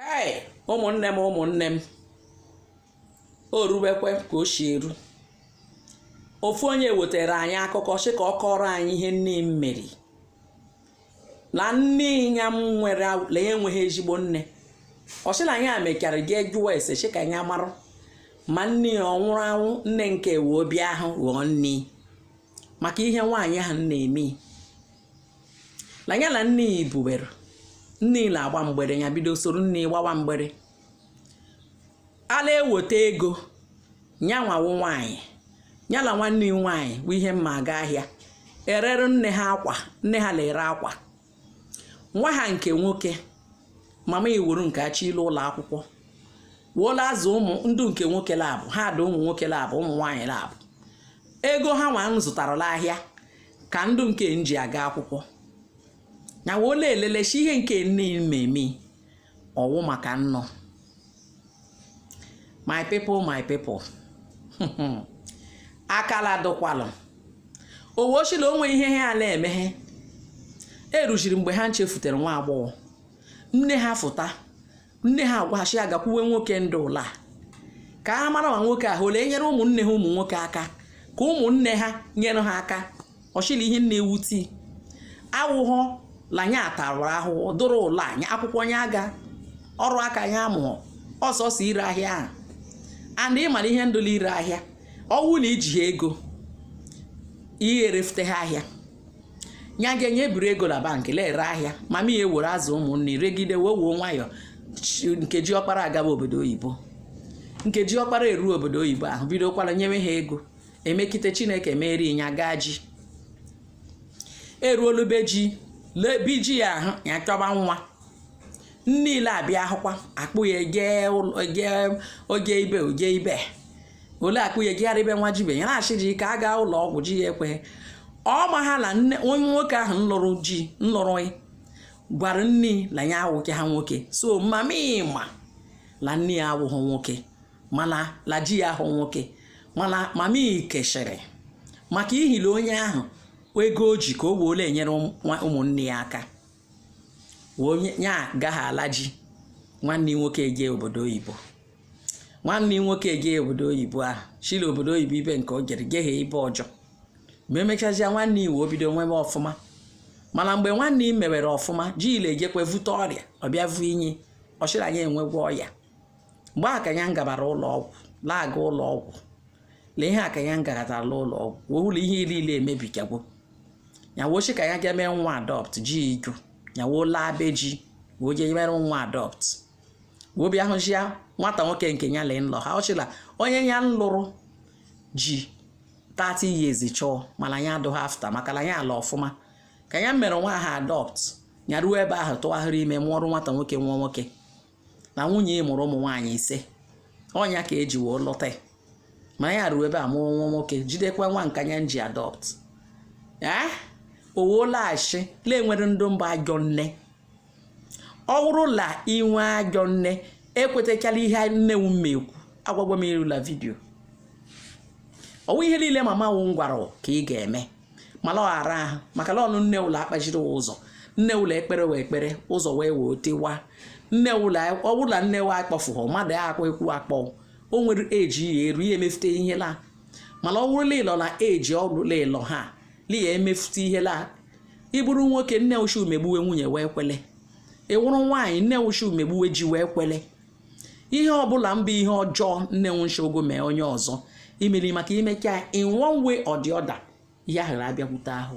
ee ụmụnne m ụmụnne m o ruwekwa ka o si eru ofu onye wetara anyị akụkọ sị ka ọ kọrọ anyị ihe nne ya mere ya na nne ya nwere na ya enweghị ezigbo nne ọ sị na ya mechara jee jụọ ese sị ka ya marụ ma nne ya ọ nwụrụ anwụ nne nke wee obi ahụ ghọọ nne maka ihe nwaanyị ahụ na-eme na ya na nne ya ibuwere nne ya na-agba mgbere ya bido soro nne ya gbawa mgbere a la-eweta ego ya nwa wụ nwaanyị ya na nwanne ya nwaanyị bụ ihe mma aga ahịa erere nne ha akwa nne ha na-ere akwa nwa ha nke nwoke mama iwuru nke achọ ilu ụlọ akwụkwọ wee la-azụ ụmụ ndụ nke nwoke labụ ha dị ụmụ nwoke labụ ụmụ nwaanyị labụ ego ha nwa zụtara la ahịa ka ndụ nke ji aga akwụkwọ na wee na-elele sị ihe nke nne ya meme ọ wụ maka nnọ my people my people akala dụkwalụ o wee sị la o nwe ihe ha la-emeghe e ruziri mgbe ha nchefutere nwa agbọghọ nne ha fụta nne ha agwa ha sị ya gakwuwe nwoke ndị ụlọ a ka ha mara ma nwoke ahụ o le-enyere ụmụnne ha ụmụ nwoke aka ka ụmụnne ha nyere ha aka ọ sị la ihe na-ewute ya awụghọ la nya atara ahụhụ dụrụ la akwụkwọ nya aga ọrụ aka ya amụ sọsọ ire ahịa ahụ and ị mara ihe ndụ la-ere ahịa ọ wụ na iji ha ego irefute ha ahịa ya ga-enye ebiri ego na bank la-ere ahịa mama ya ewere azụ ụmụnne regide wee wuo nwayọọ nke ji ọkpara agaba obodo oyibo nke ji ọkpara eruo obodo oyibo ahụ bidokwara nyewe ha ego emekite chineke meeri ya gaa ji eruo la be ji lebi ji ya ahụ ya chọba nwa niile abịa ahụkwa a kpụ ya o je ibe o je ibe o le-akpụ ya ejegharị ibe nwa je ibe ya asị ji ka a gaa ụlọ ọgwụ ji ya ekweghị ọ maha na nne onye nwoke ahụ nlụrụ ji nlụrụ gwara nne na ya awụkwaha nwoke so mama ya ma la nne ya awụghị nwoke ma la ji ya awụghị nwoke mana mama ya kechiri maka ihi la onye ahụ ego o ji ka o wee le-enyere ụmụnne ya aka onye ya agaghị ala ji nwanne nwoke eje obodo oyibo nwanne nwoke eje obodo oyibo ahụ sị la obodo oyibo ibe nke o jere jeghe ibe ọjọ ma emechazịa nwanne ya wee bido mewe ọfụma mana mgbe nwanne ya mewere ọfụma ji ya ejekwa vute ọrịa ọ bịa vunye ya ọ sị la ya enwekwa ọya mgbe ahụ ka ya ngabara ụlọ ọgwụ na-aga ụlọ ọgwụ na ihe a ka ya ngaratara ụlọ ọgwụ wee ụlọ ihe niile emebigagwo ya wochi ka ya ga mee nwa adopt ji igu ya woo laa be ji wee jee mere nwa adopt wee bịa hụchi ya nwata nwoke nke ya lee nlọ ha ọchịla onye ya lụrụ ji 30 years chọọ mana ya adụghị after maka na ya ala ọfụma ka ya mere nwa ha adopt ya ruo ebe ahụ tụgharịrị ime mụọrụ nwata nwoke nwa nwoke na nwunye ị mụrụ ụmụ nwaanyị ise ọnya ka eji wee lụta ma ya ruo ebe a mụọ nwa nwoke jidekwa nwa nka ya nji adopt ee owolaghachi na e nwere ndị mbụ ajọ nne ọ bụrụ la i nwee ajọ nne ekwetachala ihe nne wụ mma ekwu agwagwa m erula video ọ wụ ihe niile mama wụ gwara ka ị ga-eme mana ọ ghara ahụ maka na ọnụ nne wụ la-akpachiri ụzọ nne wụ la-ekpere wụ ekpere ụzọ wee wee tewa nne ụlọ ọ wụrụ la nne wa akpọfụghọ mmadụ ya akwa ekwu akpọ o nwere age ya eru ya emefute ihe la mana ọ wụrụ la ị lọ na age ọlụla ịlọ ha li ya emefute ihe la ị bụrụ nwoke nne wụ shị wụ megbuwe nwunye wụ ekwele ị wụrụ nwaanyị nne wụ shị wụ megbuwe ji wụ ekwele ihe ọ bụla mbụ ihe ọjọọ nne wụ shị gị mee onye ọzọ emele maka i mekaa in one way or the other ihe ahụ abịakwute ahụ